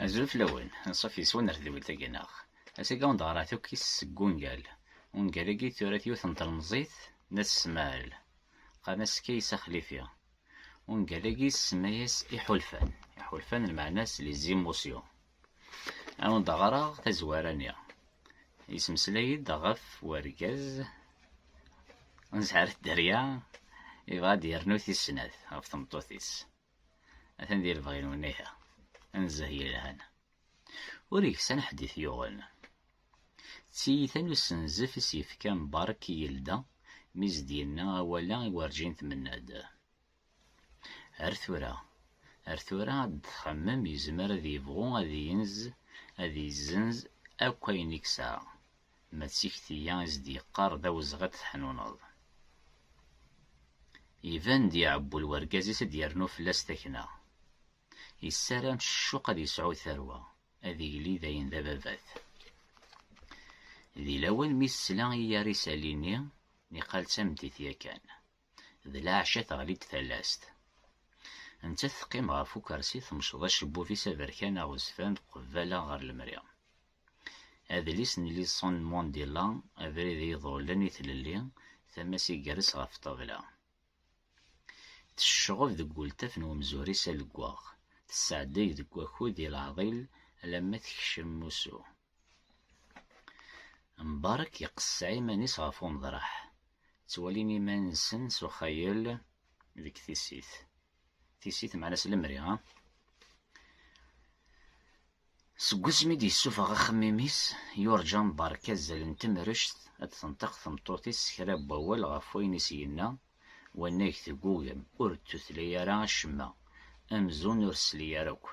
Azul fell-awen, anṣuf yes-wen ar tedwilt agi neɣ. Asagi anda ɣrat akk is seg wungal. Ungal agi tura-t yiwet n telmeẓit n At Smaɛel. Qqaren-as Kaysa Xlifi. Ungal agi tsemma-yas Iḥulfan. Iḥulfan lmeɛna-s les émotions. Awen-d ɣraɣ tazwara-nni. Yesmeslay-d ɣef wergaz n Zahra Dderya yebɣa ad yernu tis snat ɣef tmeṭṭut-is. atan di lebɣi n iha anzeh yelhan ur yeksan ḥedd i t-yuɣen d tiyita n usenzef i s-yefka Mbarek i yelda mi s-d-yenna awal-a i werǧin tmenna-d ar tura ar tura ad d-txemmem yezmer ad yebɣu ad yenz ad yezzenz akk ayen i yesɛa Ma d tikti-a i s-d-yeqqar d awezɣi ad t-teḥnuneḍ. Iban-d iɛewwel wergaz-is ad d-yernu fell-as takna. Yessaram s ccuq ad yesɛu tarwa, ad yili dayen d ababat. Di lawan mi tesla i yar isalli-nni, niqal d tameddit yakan, D laɛca teɣli-d talast. Nettat teqqim ɣef ukersi temceḍ acebbub-is aberkan aɣezfan qebbala ɣer lemri. Adlis n Nelson Mandela, Abrid i yiḍullen i tlelli, tama-s iger-s ɣef ṭṭabla. Tecceɣeb deg ultaf n umzur-is aleggaɣ, tesseɛdey deg wakud i leɛḍil alamma tekcem usu. Mbarek iqesseɛ iman-is ɣef uneḍraḥ, ttwalin iman-nsen s uxayel deg tissit. Tissit meɛna s lemri, ha? Seg wasmi i d-yessufeɣ axemmim-is, yurǧa Mbarek azal n temrect ad d-tenṭiq tmeṭṭut-is s kra n wawal ɣef wayen i s-yenna wannag teggugem, ur d-tutla ara acemma, amzun ur tesli ara akk.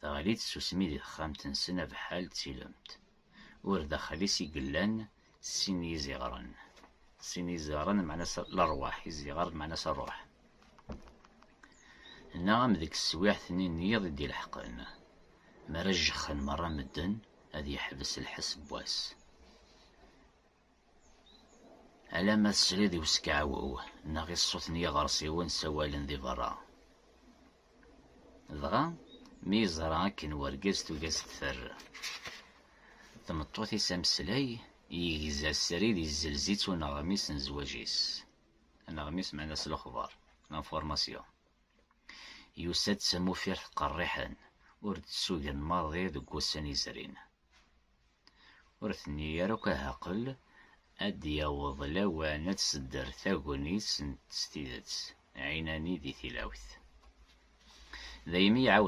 Teɣli tsusmi di texxamt-nsen abeḥḥal d tilemt. Ur daxel-is i yellan sin n yiziɣren. Sin n yiziɣren meɛna lerwaḥ, iziɣer meɛna ṛṛuḥ. Neɣ am deg teswiɛt-nni n yiḍ i d-ileḥqen, mi ara jexxen meṛṛa medden, ad yeḥbes lḥess n wass. Alamma tesliḍ i uskeɛwew neɣ i ṣṣut n yiɣersiwen ssawalen di berra. Dɣa, mi yeẓra akken wergaz tugi ad s-teffer tmeṭṭut-is ameslay, yegza srid yezzelz-itt uneɣmis n zzwaǧ-is. Aneɣmis meɛna s lexber, information. Yusa-d s amufiret qerriḥen, ur d-tsugen maḍi deg wussan yezrin. Ur tenni ara akk ahaqqel ad d-yaweḍ lawan ad tsedder tagnit n s tidet, ɛinani di tilawt. Daymi iɛawed.